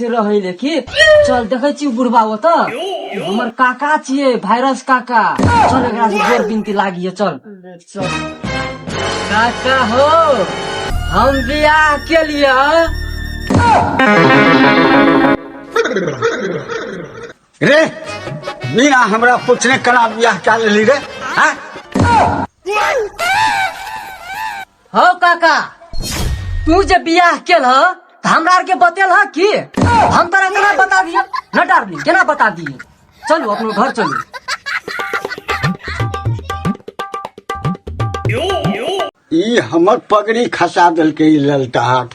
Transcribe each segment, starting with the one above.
से रहे लेकिन चल देखे छी बुढ़बा ओत हमर काका छिए वायरस काका चल एकरा से जोर बिनती लागिए चल चल काका हो हम बियाह के लिए रे मीना हमरा पूछने कना बियाह क्या लेली रे हाँ? हौ काका तू जे बियाह केल ह त हमरा आर के बतेल ह की हम तोरा केना बता दिए न डार्लिंग केना बता दिए चलू अपनो घर चलू ई हमर पगड़ी खसा देलकै ई ललटाहट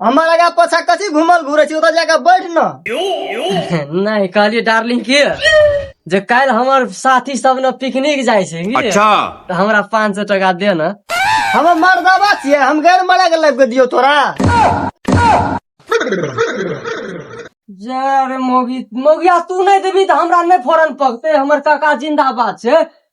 हमर आगा पाछा कथी घुमल घुरे छी ओतऽ जाके बैठ न नहीं कहलिए डार्लिंग के जे काल्हि हमर साथी सब ने पिकनिक जाइ छै की? अच्छा तऽ हमरा पाँच सौ टका दे न हम मर्दाबा छियै हम गैर मरा के लाइफ के दियो तोरा जे रे मौगी मौगिया तू नहीं देबी तऽ हमरा नहीं फोरन पकते हमर काका जिंदाबाद छै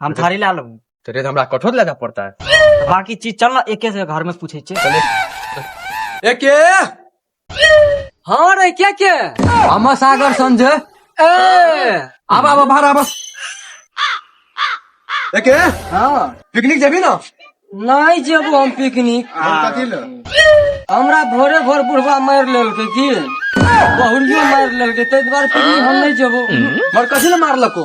हम थारी ला लेबू तो रे तो हमरा कठोर लेना पड़ता है बाकी चीज चल ना एके से घर में पूछे छे ए के हाँ रे क्या क्या हम सागर संजय ए आबा आबा बाहर आबा ए के हाँ पिकनिक जेबी ना नहीं जेबू हम पिकनिक कथी ले हमरा भोरे भोर बुढ़वा मार लेलकै की बहुरियो मार लेलकै ताहि दुआरे पिकनिक हम नहीं जेबो मर कथी ले मारलको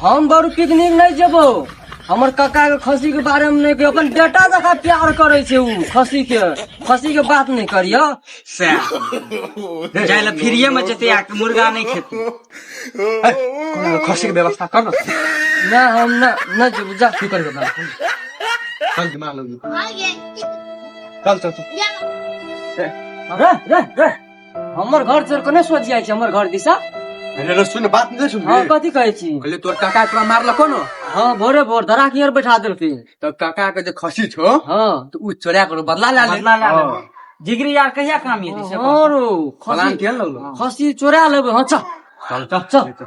हम बरू पिकनिक नहीं जेबो हमर काका के खसी के बारे में नहीं अपन बेटा जका प्यार करे छे उ खसी के खसी के बात नहीं करियो से जाय ला फ्रीए में जते आ के मुर्गा नहीं खेते कोनो खसी के व्यवस्था कर ना हम ना ना जेबो जा तू करियो ना चल दिमाग लगी चल चल चल रे रे रे हमर घर चोर कने सोच जाइ छै हमर घर दिशा अरे रे सुन बात नहीं सुन हाँ कथी कहै छी कहले तोर काका तोरा मारल कोनो हाँ भोरे भोर धरा कियर बैठा देलखिन तो काका के जे खसी छो हाँ तो उ चोरा करो बदला ला ले बदला ला ले। हाँ। जिगरी यार कहिया काम ये दिशा और प्लान खसी केहन लगलो खसी चोरा लेबै हाँ चल चल चल चल।